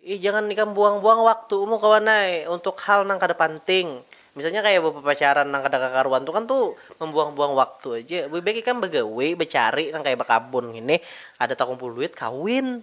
Ih jangan ikam buang-buang waktu mu kawan ai untuk hal nang kada panting, misalnya kaya bapapacaran nang kada kakaruan tu kan tu mambuang-buang waktu aja, lebih baik ikam bagawi bacari nang kaya bakabun ngini kada takumpul duit kawin.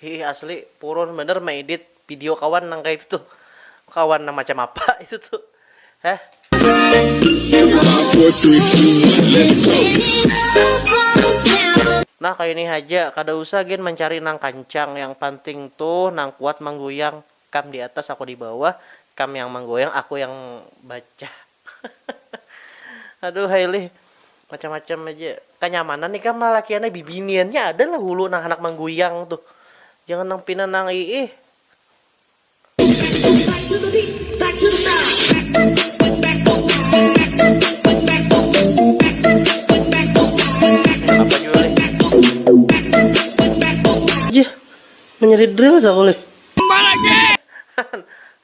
Hiih asli purun banar maedit video kawan nang kaitu tuh kawan nang macam apa itu tuh heh. Nah kaya ini haja kada usah gin mancari nang kancang yang panting tuh nang kuat mangguyang kam di atas aku di bawah kam yang manggoyang aku yang bacah. Aduhai lih, macam-macam aja. Kanyamanan ikam lalakian ai, bibiniannya ada lah hulu nang handak mangguyang tuh. Jangan nang pina nang iih. Jih, menyeri drills aku lih.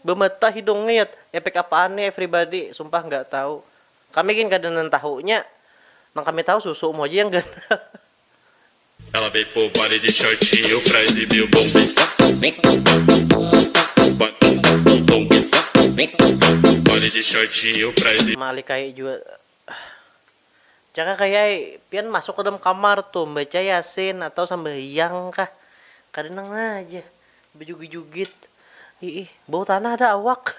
Bematah hidung ngeet, epek apaan nih everybody, sumpah nggak tahu. Kami gin kada nang tahunya, nang kami tahu susu, umum haja yang ganal. Malikahi jua Jaka kaya ai pian masuk ka dalam kamar tu membaca yasin atau sambahyang kah kada nang nah ja bajugit-jugit iih bau tanah dah awak.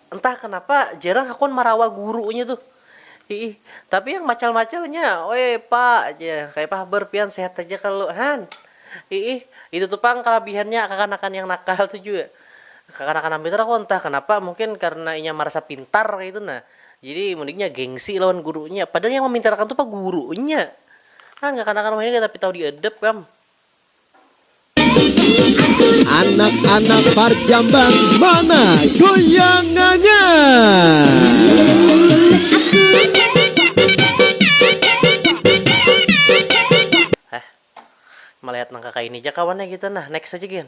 Entah kenapa jarang hakun marawa gurunya tuh. Hiih, tapi yang macal-macalnya, Oi pa, jar, kayapa habar pian, sehat haja kah lu? Han! Hiih, itu tu pang kalabihannya kakanakan yang nakal tu jua. Kakanakan am Peter aku entah kenapa mungkin karena inya marasa pintar kaytu nah, jadi mun inya gengsi lawan gurunya. Padahal yang mamintarakan tu pa gurunya. Han, kakanakan wahini kada tapi tahu diadab kam. Anak-anak parjambang mana goyangannya? Heh, malihat nang kakaini ja kawannya kita nah, next aja gin.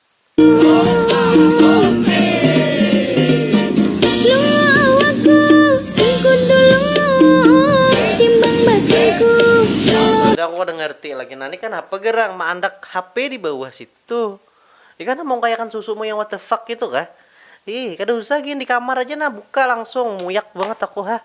Sudah aku kada ngerti lagi nah, ni kanapa garang maandak HP di bawah situ? Ni kah namungkayakan susumu yang what the fuck ngitu kah? Ih, kada usah gin di kamar aja nah buka langsung, muyak banget aku ha.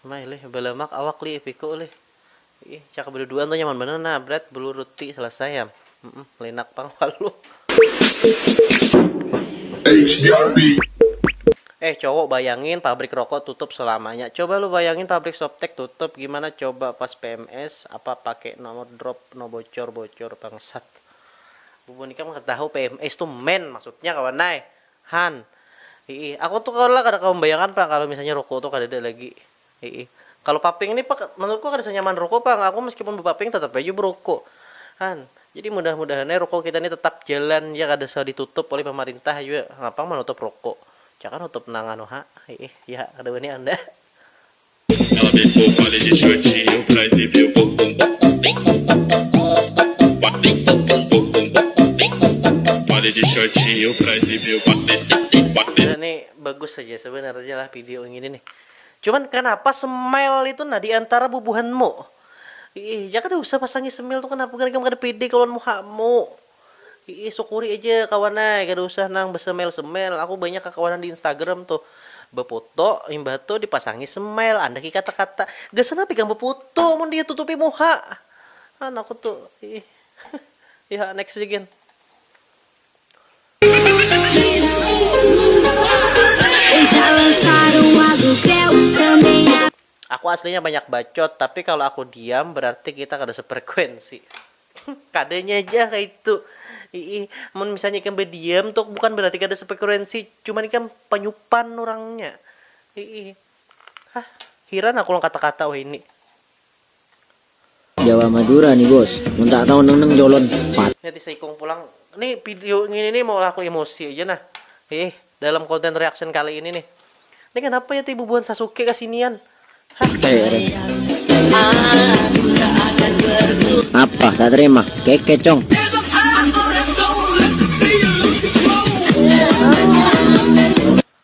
Mah lih balamak awak lih ipiku lih ih caka baduduan tu nyaman banar nah bret bulu ruti selesai am mm linak pang waluh. Eh cowok bayangin pabrik rokok tutup selamanya coba lu bayangin pabrik softtek tutup gimana coba pas pms apa pake nomor drop no bocor bocor bangsat. Bubun ikam kada tahu pms tu men maksudnya kawan ai han. Hiih aku tu kawan lah kada kawa membayangkan pang kalu misalnya rokok tu kadada lagi Hiih. Kalu paping ni pang menurutku kada sanyaman ruko pang, aku meskipun bepaping tetap haja beruko. Han. Jadi mudah mudahan ai ruko kita ni tetap jalan ja kada usah ditutup oleh pemerintah jua. Napa pang menutup ruko. Cakah nutup nang anu ha. Hiih. Ya ha kada wani anda. Nih bagus haja sebenarnya lah video ngini nih. Cuman kanapa smile itu nah diantara bubuhanmu? Iih ja kada usah pasangi smile tu kanapa gin ikam kada pede kalo lawan muhamu. Iih sukuri aja kawan ai kada usah nang besmile smile aku banyak kakawanan di instagram tu befoto imbah tu dipasangi smile andak i kata kata gasan apa ikam befoto mun ditutupi muha an aku tu iih yha next ja gin. Aku aslinya banyak bacot, tapi kalo aku diam berarti kita kada sefrekuensi. Kadanya ja kaitu. Iih, mun misalnya ikam badiam tu bukan berarti kada sefrekuensi, cuman ikam panyupan urangnya. Iih. Hah, hiran aku lawan kata-kata wahini. Jawa Madura nih bos, mun tak tau neng neng jolon pat. Nya tisa ikung pulang. Nih video ngini nih maulah aku emosi aja nah. Hih, dalam konten reaction kali ini nih. Nih kanapa ya ti bubuhan Sasuke kasinian. Hah. Apa tak terima, keke cong.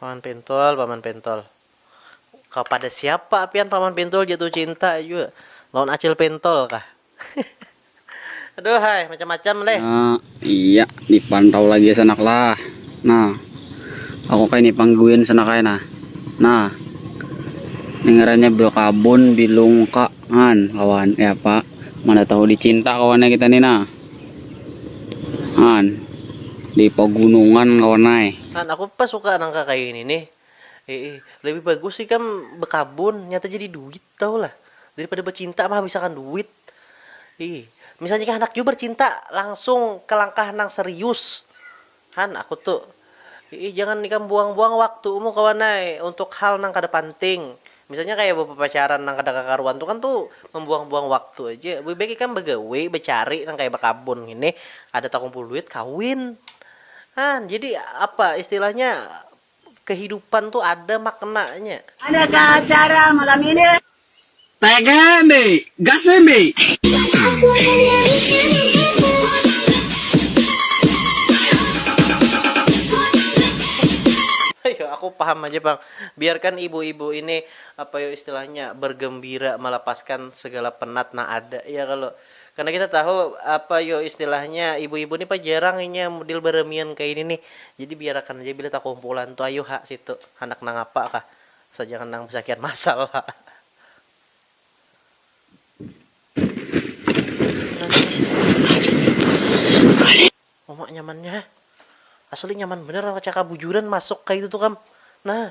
Paman Pintul, Paman Pintul. Kapada siapa pian Paman Pintul jatuh cinta jua? Lawan Acil Pintul kah? Aduhai, macam-macam leh. Nah, iya, dipantau lagi sanak lah. Nah, aku kaini pangguin sanak ai nah. Nah, ni ngarannya bakabun di lungka, han, kawan. Kayapa, mana tahu dicinta kawannya kita ni nah. Han, di pagunungan kawan ai. Han, aku pas suka nang ka kaya ini nih. Iih, lebih bagus ikam bekabun, nyata jadi duit tahu lah. Daripada becinta menghabisakan duit. Iih, misalnya kah handak jua bercinta, langsung ke langkah nang serius. Han, aku tu. Iih, jangan ikam buang-buang waktumu kawan ai untuk hal nang kada panting. Misalnya kaya bapapacaran nang kada kakaruan tu kan tu mambuang-buang waktu aja. Lebih baik ikam bagawi, bacari nang kaya bakabun ngini, kada takumpul duit kawin. Han, jadi apa istilahnya Kehidupan tu ada maknanya. Mana kah acara malam ini? Tegang di gasin di. Ayo aku paham aja pang. Biarkan ibu-ibu ini apa yo istilahnya bergembira malapaskan segala penat nang ada ya kalo. Karena kita tahu apa yo istilahnya ibu-ibu ni pa jarang inya mudil baramian kaya ini nih. Jadi biarakan haja bila takumpulan tu ayu ha situ handak nang apa kah. Asal jangan nang basakian masal ha. Uma nyamannya ha. Asli nyaman banar awan kacakabujuran masuk kaya itu tu kam. Nah.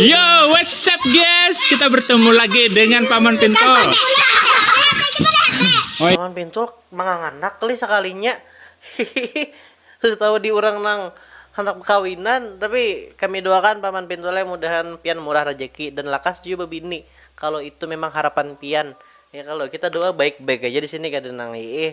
Yo, what's up guys? Kita bertemu lagi dengan Paman Pintul. Paman Pintul manganganak kali sekalinya. Tahu di orang nang hendak bekawinan, tapi kami doakan Paman Pintul ya mudahan pian murah rejeki dan lakas jua bebini kalau itu memang harapan pian. Ya kalau kita doa baik-baik aja di sini kada nang iih.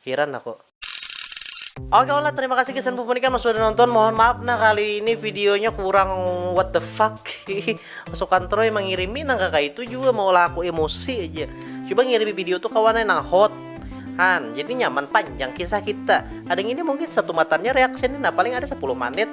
Hiran aku. Oke lah terima kasih guys dan pupunikan mas sudah nonton mohon maaf nah kali ini videonya kurang what the fuck masukan Troy mengirimi nang kakak itu juga mau lah aku emosi aja coba ngirimi video tuh kawan nang hot han jadi nyaman panjang kisah kita ada yang ini mungkin satu matannya reaction nah paling ada 10 menit